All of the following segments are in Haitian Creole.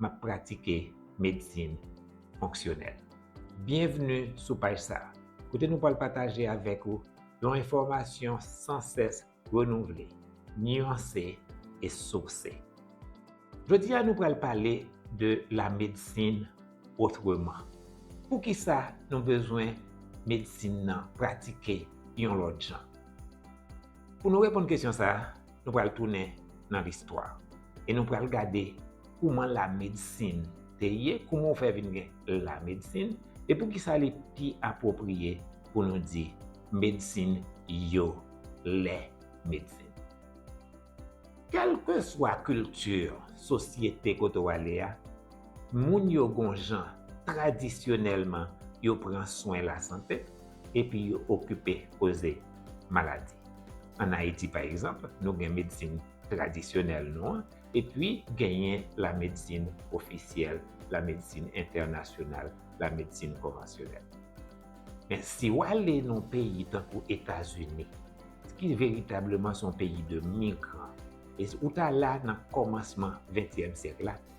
m ap pratike medsin fonksyonèl. Byenvni sou paj sa a, kote nou pral pataje avèk ou yon enfòmasyon san sès renouvle, nyanse e sourse. Jodi a nou pral pale de la medsin otreman. Poukisa nou bezwen medsin nan pratike yon lòt jan? Pou nou reponn kesyon sa a, nou pral tounen nan listwa e nou pral gade kouman la medsin te ye, kouman ou fè vin gen la medsin e pou ki sa li pi apwopriye pou nou di medsin yo, lè medsin. Kèlke swa kilti, sosyete kote ou ale a, moun yo gon jan tradisyonèlman yo pran swen lasante, epi yo okipe koze maladi. An Ayiti pa egzanp, nou gen medsin tradisyonèl nou an epi genyen la medsin ofisyèl, la medsin entènasyonal, la medsin konvansyonèl. Men si w ale nan peyi tankou Etazini, ki veritableman se yon peyi de migran, e ou ta la nan kòmansman ventyèm syèk la,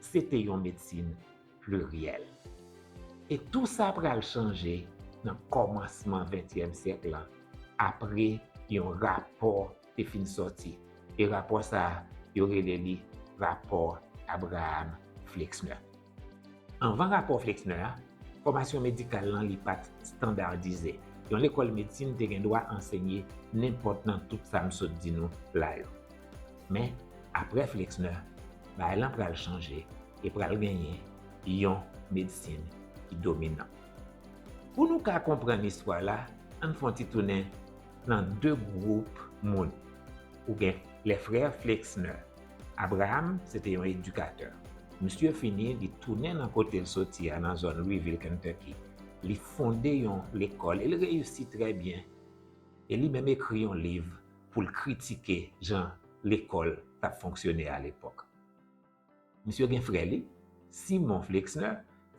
Se te yon medsin pliryèl. E tou sa pral chanje nan kòmansman ventyèm syèk lan apre yon rapò te fin sòti. E rapò sa a, yo rele li rapò Abraham Flexner. Anvan rapò Flexner a, fòmasyon medikal lan li pa t standardize. Yon lekòl medsin te gen dwa ansenye nenpòt nan tout sa m sot di nou la yo. Men, aprè Flexner, bagay lan pral chanje e pral genyen yon medsin ki dominan. Pou nou ka konprann istwa la, an n fè yon ti tounen nan de gwoup moun. Ou gen les frères Flexner. Abraham se te yon edikatè. Misye fini, li tounen nan kote l soti a, nan zòn Louisville, Kentucky. Li fonde yon lekòl e l reyisi trè byen. E li menm ekri yon liv pou l kritike jan lekòl t ap fonksyone alepòk. Misye gen frè li, Simon Flexner,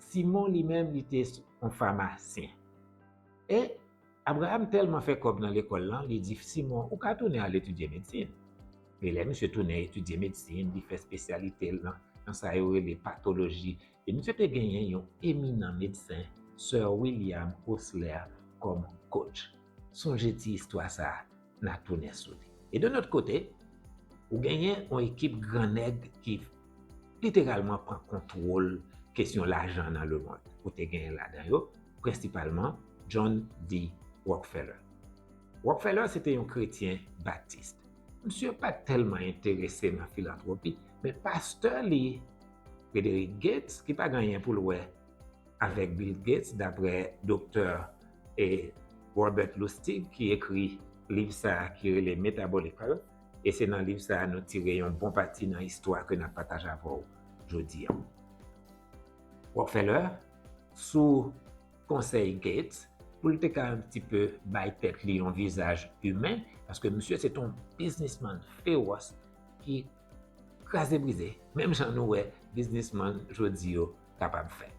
Simon li menm li te yon famasyen. E, Abraram tèlman fè kòb nan lekòl lan, li di Simon, ou ka tounen al etidye medsin. E lè misye tounen etidye medsin, li fè spesyalite l nan sa yo rele patoloji E misye te genyen yon eminan medsen Sir William Osler kòm coach. Sonje ti istwa sa a, n a tounen sou li. E de lòt kote, ou genyen yon ekip gran nèg ki literalman pran kontwol kesyon lajan nan lemond. Ou te genyen ladan yo, prensipalman, John D. Rockefeller. Rockefeller se te yon kretyen batist. Misye pa t tèlman enterese nan filantwopi, men pastè li Frederick Gates ki pa gen anyen pou l wè avèk Bill Gates daprè doktè e Robert Lustig ki ekri liv sa ki rele Metabolical e se nan liv sa nou tire yon bon pati nan istwa ke nap pataje avè w jodi an. Rockefeller sou konsèy Gates pou l te ka yon ti peu bay tèt li yon vizaj imen paske misye se te yon biznisman fewòs ki kraze brize, menm jan nou wè biznisman jodi yo kapab fè.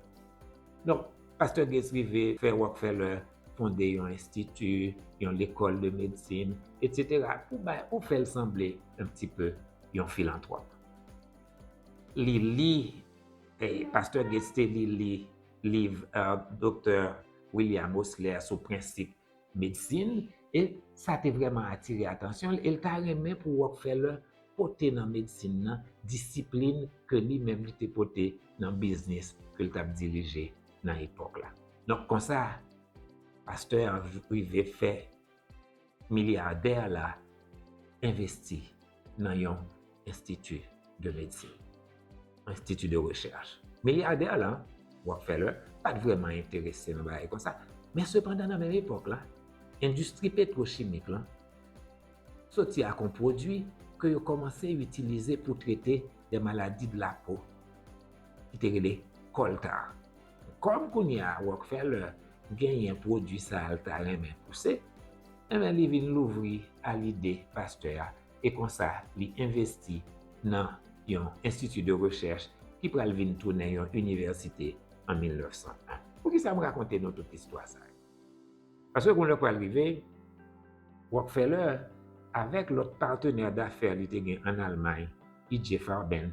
Donk, pastè Gates rive fè Rockefeller fonde yon enstiti, yon lekòl de medsin, etsetera, pou bay, pou fè l sanble yon ti pe yon filantwòp. Li li, pastè Gates te li li liv Doktè William Osler sou prensip medsin, e sa te vrèman atire atansyon l e l ta renmen pou Rockefeller pote nan medsin nan disiplin ke li menm li te pote nan biznis ke l t ap dirije nan epòk la. Donk konsa, pastè a rive fè milyadè la envesti. nan yon enstiti de medsin, enstiti de rechèch. Milyadè la, Rockefeller, pa t vrèman enterese nan bagay kon sa, men sepandan nan menm epòk la, endistri petwochimik lan soti ak yon pwodui ke yo kòmanse itilize pou trete de maladi de la po ki te rele coal tar. Kòm kounye a Rockefeller genyen pwodui sa a l ta renmen pouse, enben li vin louvri a lide pastè a e konsa li envesti nan yon Institut de Recherche ki pral vin tounen yon inivèsite an 1901. Poukisa m rakonte nou tout istwa sa yo? Paske yon lè pral rive, Rockefeller avèk lòt patenè dafè li te gen ann Almay, EJ. Farben,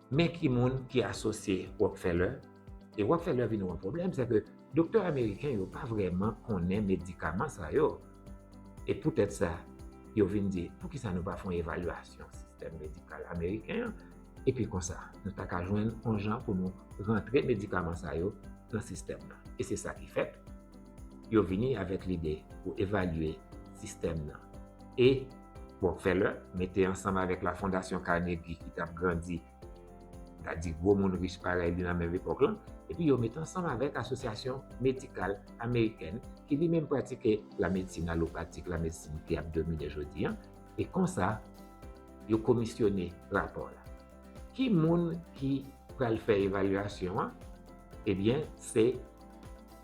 Men ki moun ki asosye Rockefeller, e Rockefeller vin yon pwoblèm, se ke doktè ameriken yo pa vrèman konnen medikaman sa yo. E poutèt sa, yo vin di, poukisa nou pa fè yon evalyasyon sistèm medikal ameriken an, epi konsa, nou ta ka jwenn yon jan pou nou rantre medikaman sa yo nan sistèm nan. E se sa ki fèt, yo vini avèk lide pou evalye sistèm nan. E. Rockefeller mete ansanm avèk la Fondasyon Carnegie ki t ap grandi, n a di gwo moun rich parèy li nan menm epòk lan, epi yo met ansanm avèk Asosyasyon Medikal Amerikèn ki li menm pratike lamedsin alopatik, lamedsin ki ap domine jodi an, e konsa yo komisyone rapò la. Ki moun ki pral fè evalyasyon an? Ebyen se.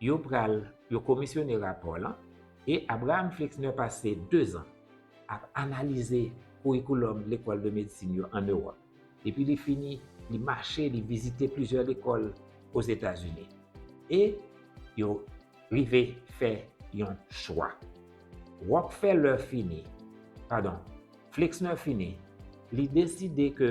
Yo pral yo komisyone rapò lan e Abraham Flexner pase dezan ap analize kourikoulòm lekòl de medsin yo ann Ewòp. Depi li fini, li mache, li vizite plizyè lekòl Ozetazini e yo rive fè yon chwa. Rockefeller fini, padon, Flexner fini, li deside ke.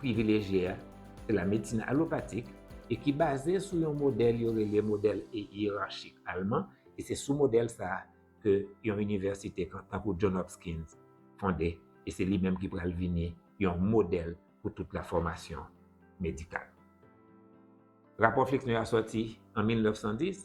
privilejye a se la medsin alopatik e ki baze sou yon modèl yo rele modèl iyerachik alman e se sou modèl sa a ke yon inivèsite tankou John Hopkins fonde e se li menm ki pral vini yon modèl pou tout la fòmasyon medikal. Rapò Flixner a sòti an 1910.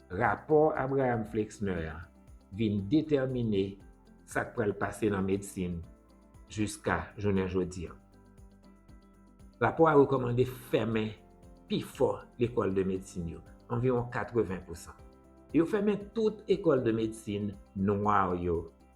Rapò Abraham Flexner a vin detèmine sa k pral pase nan medsin jiska jounen jodi an. Rapò a rekòmande fèmen pifò lekòl de medsin yo, anviwon 80 pousan, e yo fèmen tout ekòl de medsin nwa yo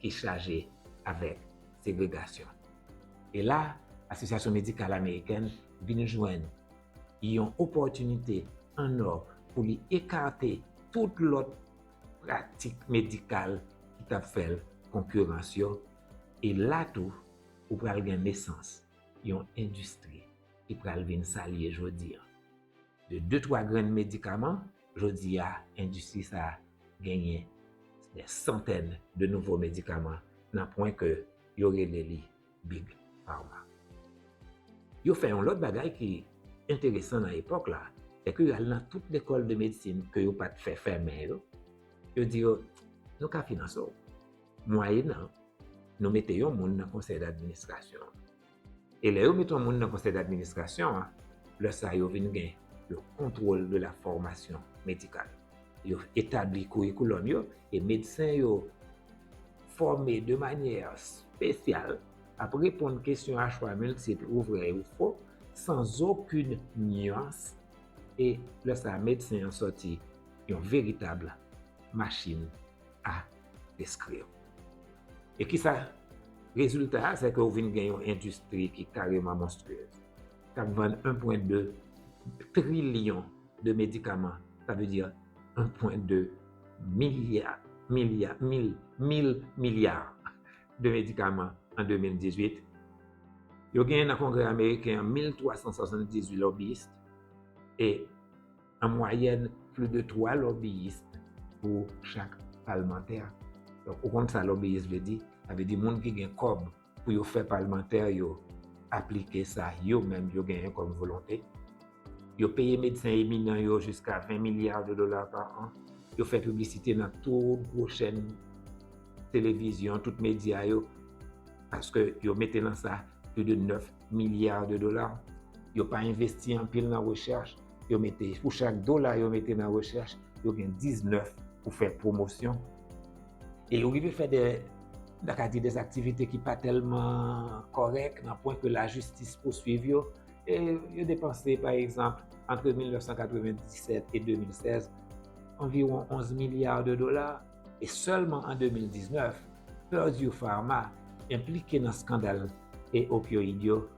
ki chaje avèk segregasyon. E la, Asosyasyon Medikal Amerikèn vin jwenn yon opòtinite an ò pou li ekate tout lòt pratik medikal ki t ap fè l konkirans yo, e la tou, ou pral gen nesans yon endistri ki pral vin sa l ye jodi an. De de twa grenn medikaman, jodi a endistri sa genyen dè santèn de nouvo medikaman nan pwen ke yo rele li Big Pharma. Yo fè yon lòt bagay ki enteresan nan epòk la, se ke yo al nan tout lekòl de medsin ke yo pat fè fèmen yo, yo di yo, nou ka finanse w, mwayenan nou mete yon moun nan konsèy d'administrasyon an. E lè yo met yon moun nan konsèy d'administrasyon an, lè sa yo vin gen le contrôle de la formation médicale. Yo etabli kourikoulòm yo e medsen yo fòme de manyè spesyal ap reponn kesyon a chwa miltip ou vrè ou fo san zokoun nyans e lè sa medsen an sòti yon veritab machin. a eskri yo. E ki sa? Rezilta a se ke ou vin gen yon endistri ki kareman monstriyez. K ap vann 1.2 trilyon de medikaman, sa vle di 1.2 milya, milya, mil, mil milya de medikaman an 2018. Yo genyen nan Kongrè Ameriken an 1.378 lobbyist e. an mwayèn pli de 3 lòbiyis pou chak palmantè. Donk ou konn sa lòbiyis vle di? Sa vle di moun ki gen kòb pou yo fè palmantè yo aplike sa yo menm yo genyen kòm volonte. Yo peye medsen eminan yo jiska 20 milya de dola pa an. Yo fè piblisite nan tout gwo chèn televizyon, tout medya yo paske yo mete nan sa pli de 9 milya de dola. Yo pa envesti anpil nan rechèch. yo mete pou chak dola yo mete nan rechèch, yo gen 19 pou fè pwomosyon. E yo rive fè de, nan ka di de aktivite ki pa tèlman kòrèk, nan pwen ke la jistis pouswiv yo, e yo depanse, pa egzanp, antre 1997 e 2016, anviwon 11 milya de dola, e sèlman an 2019, Purdue Pharma enplike nan skandal e opioid yo,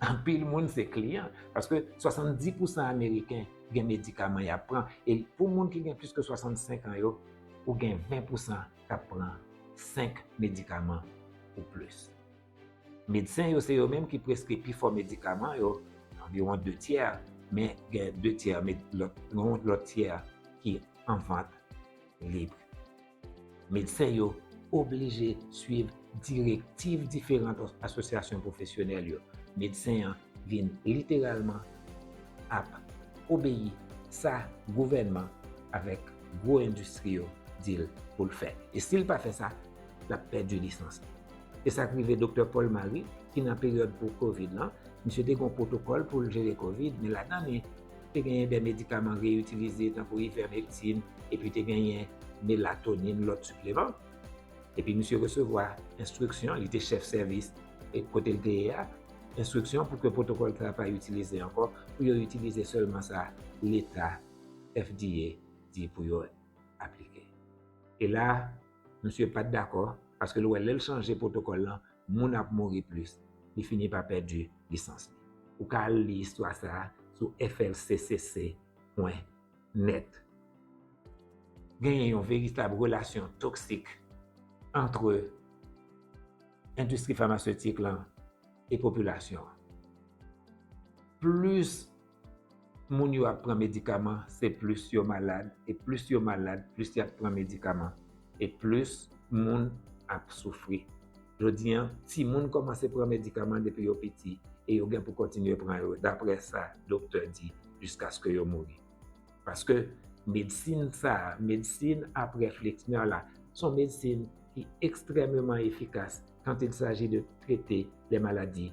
Anpil moun se kliyan, paske 70 pousan ameriken gen medikaman y ap pran, e pou moun ki gen plis ke 65 an yo, ou gen 20 pousan k ap pran 5 medikaman ou plis. Medsen yo se yo menm ki preskri pifò medikaman yo, anviwon de tyè, men gen de tyè, yon lòt tyè ki an vant lib. Medsen yo oblije swiv direktiv diferan asosyasyon pwofesyonèl yo. Medsen an vin literalman ap obeyi sa gouvènman avèk gwo endistri yo di l pou l fè. E si l pa fè sa, l ap pèdi lisans li. Se sa k rive doktè Paul Marie ki nan peryòd pou covid lan, misye te gen yon pwotokòl pou l jere covid men ladan li Te genyen de medikaman reyitilize tankou ivèmektin epi te genyen melatonin, lòt sipleman. Epi misye resevwa enstriksyon, li te chèf sèvis kote l te ye a, enstriksyon pou ke pwotokòl sa a pa itilize ankò, pou yo itilize sèlman sa leta, FDA, di pou yo aplike. E la, misye pa t dakò, paske l wè lè l chanje pwotokòl lan, moun ap mouri plis, li fini pa pèdi lisans li. Ou ka al li istwa sa a sou FLCCC pwen nèt. Genyen yon veritab relasyon toksik antre endistri famaseutik lan e popilasyon an. Plis moun yo ap pran medikaman se plis yo malad e plis yo malad plis yap pran medikaman e plis moun ap soufri jodi an timoun kòmanse pran medikaman depi yo piti e yo gen pou kontinye pran yo daprè sa doktè di jiskaske yo mouri paske medsin sa medsin aprè flixner la son medsin ki ekstrèmeman efikas kant il saji de trete lè maladi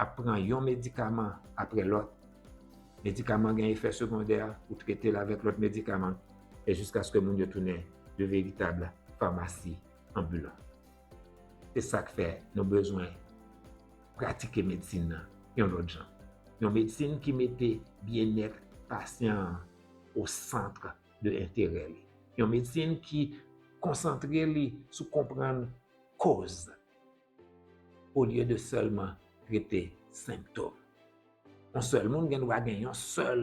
ap pran yon medikaman apre lòt, medikaman gen efè segondè, ou trete l avèk lòt medikaman, e jiskaske moun yo tounen de veritab famasi anbilan. Se sa k fè nou bezwen pratike medsin nan yon lòt jan, yon medsin ki mete byennèt pasyan an o santre de enterè li, yon medsin ki konsantre li sou konprann koz. olye de sèlman trete senptom. Yon sèl moun gen dwa gen yon sèl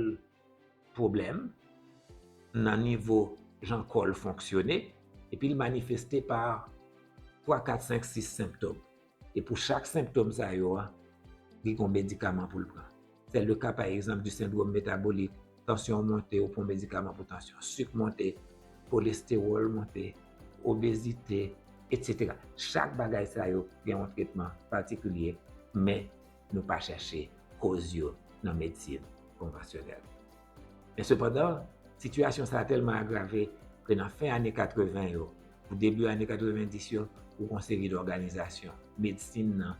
pwoblèm nan nivo jan kò l fonksyone epi l manifeste pa 3, 4, 5, 6 senptom. E pou chak senptom sa yo, li gen yon medikaman pou l pran. Se le ka pa egzanp di sendwom metabolik, tansyon monte ou pran medikaman pou tansyon, sik monte, kolestewòl monte, obezite, etsetera. Chak bagay sa yo gen yon tretman patikilye men nou pa chache koz yo nan medsin konvansyonèl. Men sepandan, sitiyasyon sa a tèlman agrave ke nan fen ane 80 yo pou debi ane 90 yo, ou gen yon seri dòganizasyon medsin nan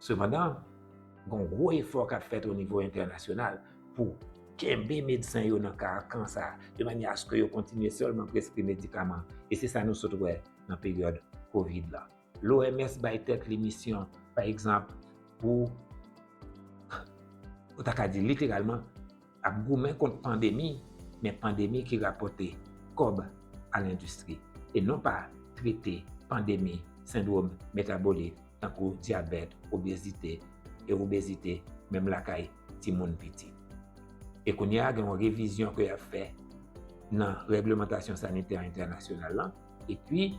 Sepandan, gon gwo efò kap fèt o nivo entènasyonal pou kenbe medsen yo nan karakan sa a, de manyè aske yo kontinye sèlman preskri medikaman, e se sa nou sot wè nan peryòd kovid la. L'OMS bay tèt li misyon, pa egzanp, pou, ou ta ka di literalman, ap goumen kont pandemi, men pandemi ki rapòte kòb a lendistri, e non pa trete pandemi sendwom metabolik tankou dyabèt, obezite, e obezite menm lakay timoun piti. E kounye a gen yon revizyon ke y ap fè nan règlemantasyon sanitè entènasyonal lan, epi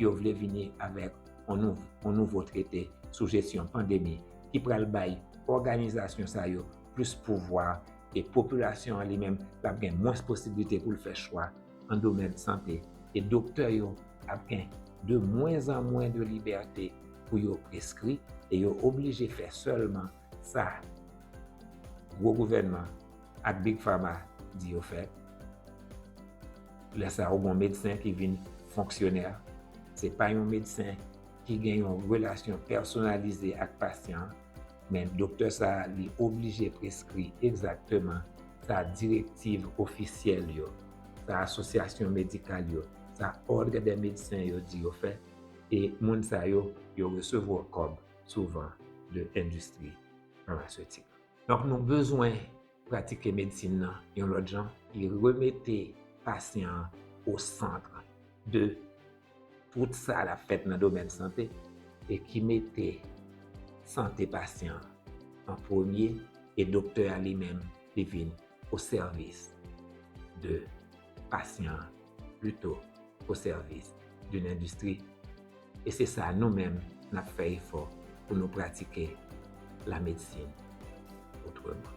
yo vle vini avèk yon nouvo trete sou jesyon pandemi ki pral bay òganizasyon sa yo, plis pouvwa e popilasyon an li menm l ap gen mwens posiblite pou l fè chwa nan domèn sante e doktè yo ap gen de mwens an mwens de libète pou yo preskri e yo oblije fè sèlman sa gwo gouvènman ak big fama di yo fè lè sa ou gon medsen ki vin fonksyonè se pa yon medsen ki gen yon relasyon pèsonalize ak pasyan. men doktè sa a li oblije preskri egzakteman sa direktiv ofisyèl yo, sa asosyasyon medikal yo, sa òdre dè medsen yo di yo fè e moun sa yo, yo resevwa kòb souvan de endistri famasetik. Donk nou bezwen. Pratike medsin nan yon lòt jan ki remete pasyan an o santr de tout sa l ap fèt nan domèn sante e ki mete sante pasyan an an premye e doktè a li menm li vin o sèvis de. pasyan pito o sèvis doun endistri e se sa nou menm n ap fè efò pou nou pratike la medsin otreman.